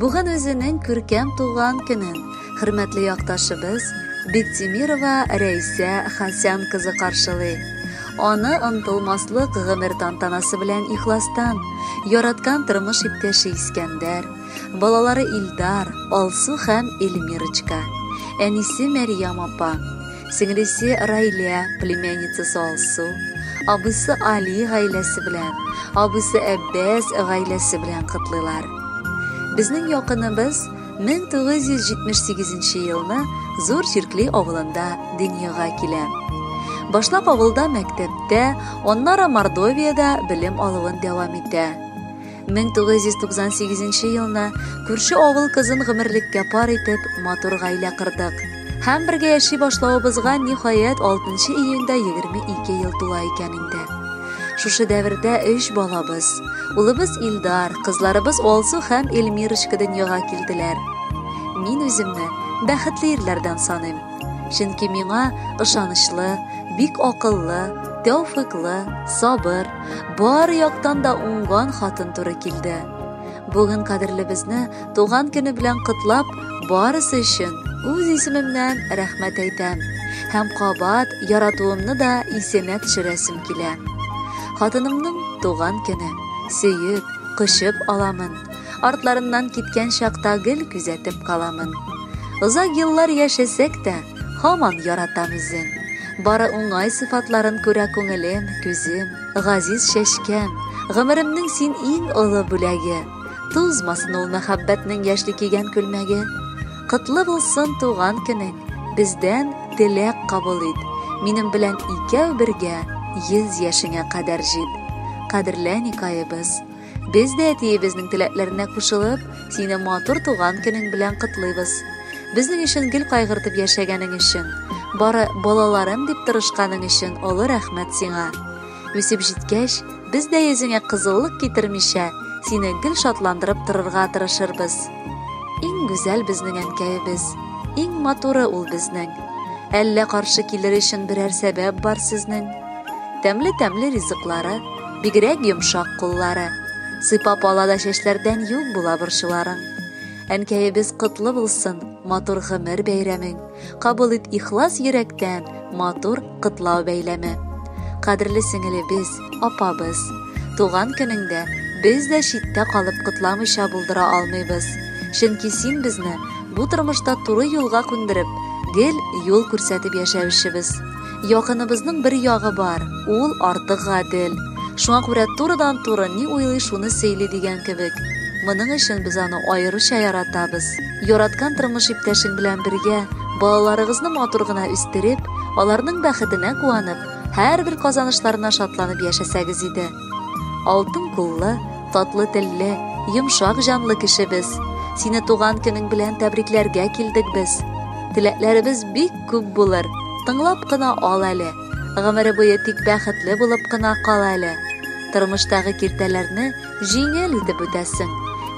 Бүген үзенең күркәм туган көнен хөрмәтле якташыбыз Биктимирова Рәйсә Хасян кызы каршылый. Аны онтылмаслык гомер тантанасы белән ихластан, яраткан тормыш иптәше Искәндәр, балалары Илдар, Алсу һәм Эльмирочка, әнисе Мәрьям апа, Сеңлесе Райлә, племянницасы Алсу, абыйсы Али гаиләсе белән, абыйсы Әббәс гаиләсе белән котлыйлар. Безнең якыныбыз 1978 елны Зур Чиркли авылында дөньяга килә. Башлап авылда мәктәптә, аннары Мордовиядә белем алуын дәвам итә. 1998 елны күрше авыл кызын гомерлеккә пар итеп, матур гаилә кырдык. Һәм бергә яши башлавыбызга ниһаять 6 июньдә 22 ел тула икән инде. Шушы дәвердә 3 балабыз, улыбыз Илдар, кызларыбыз Алсу һәм Эльмирочка дөньяга килделәр. Мин үземне бәхетле ирләрдән саныйм. Чөнки миңа ышанычлы, бик акыллы, тәүфыклы, сабыр, Бар яктан да уңган хатын туры килде. Бүген кадерлебезне туган көне белән котлап, барысы өчен үз исемемнән рәхмәт әйтәм. Һәм кабат яратуымны да исенә төшерәсем килә. Хатынымның туган көне. Сөеп, кочып аламын. Артларыннан киткән чакта гел күзәтеп каламын. Озак еллар яшәсәк тә, Һаман яратам үзен. Бары уңай сыйфатларын күрә күңелем, күзем, газиз чәчкәм, гомеремнең син иң олы бүләге. Тузмасын ул мәхәббәтнең яшьли кигән күлмәге. Котлы булсын туган көнең, бездән теләк кабул ит. Минем белән икәү бергә, йөз яшеңә кадәр җит. Кадерле Әникаебыз! Без дә әтиебезнең теләкләренә кушылып, сине матур туган көнең белән котлыйбыз. Безнең өчен гел кайгыртып яшәгәнең өчен, бары балаларым дип тырышканың өчен олы рәхмәт сиңа. Үсеп җиткәч, без дә йөзеңә кызыллык китермичә, сине гел шатландырып торырга тырышырбыз. Иң гүзәл безнең әнкәебез, иң матуры ул безнең. Әллә каршы килер өчен берәр сәбәп бар сезнең? Тәмле тәмле ризыклары, бигрәк йомшак куллары. Сыйпап ала да чәчләрдән юк була борчуларың. Әнкәебез котлы булсын, матур гомер бәйрәмең. Кабул ит ихлас йөрәктән матур котлау бәйләме. Кадерле сеңелебез, апабыз, туган көнеңдә без дә читтә калып котламыйча булдыра алмыйбыз. Чөнки син безне бу тормышта туры юлга күндереп, гел юл күрсәтеп яшәүчебез. Якыныбызның бер ягы бар, ул артык гадел. Шуңа күрә турыдан-туры ни уйлый, шуны сөйли дигән кебек. Моның өчен без аны аеруча яратабыз. Яраткан тормыш иптәшең белән бергә, балаларыгызны матур гына үстереп, аларның бәхетенә куанып, һәрбер казанышларына шатланып яшәсәгез иде. Алтын куллы, татлы телле, йомшак җанлы кешебез. Сине туган көнең белән тәбрикләргә килдек без. Теләкләребез бик күп булыр. Тыңлап кына ал әле. Гомере буе тик бәхетле булып кына кал әле. Тормыштагы киртәләрне җиңел итеп үтәсең.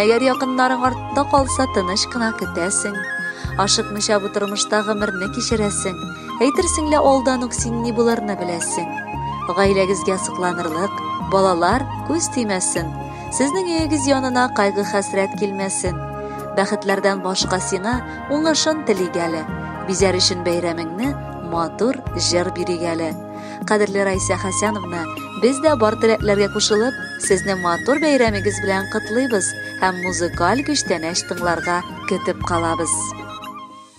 Әгәр якыннарың артта калса, тыныч кына көтәсең. Ашыкмыйча бу тормышта гомерне кичерәсең. Әйтерсең лә алдан ук син ни булырны беләсең. Гаиләгезгә сокланырлык, балалар күз тимәсен. Сезнең өегез янына кайгы хәсрәт килмәсен. Бәхетләрдән башка сиңа уңышын телик әле. Бизәр өчен бәйрәмеңне матур җыр бирик әле. Кадерле Райсә Хәсәновна, без дә бар теләкләргә кушылып, сезне матур бәйрәмегез белән котлыйбыз һәм музыкаль күчтәнәч тыңларга көтеп калабыз.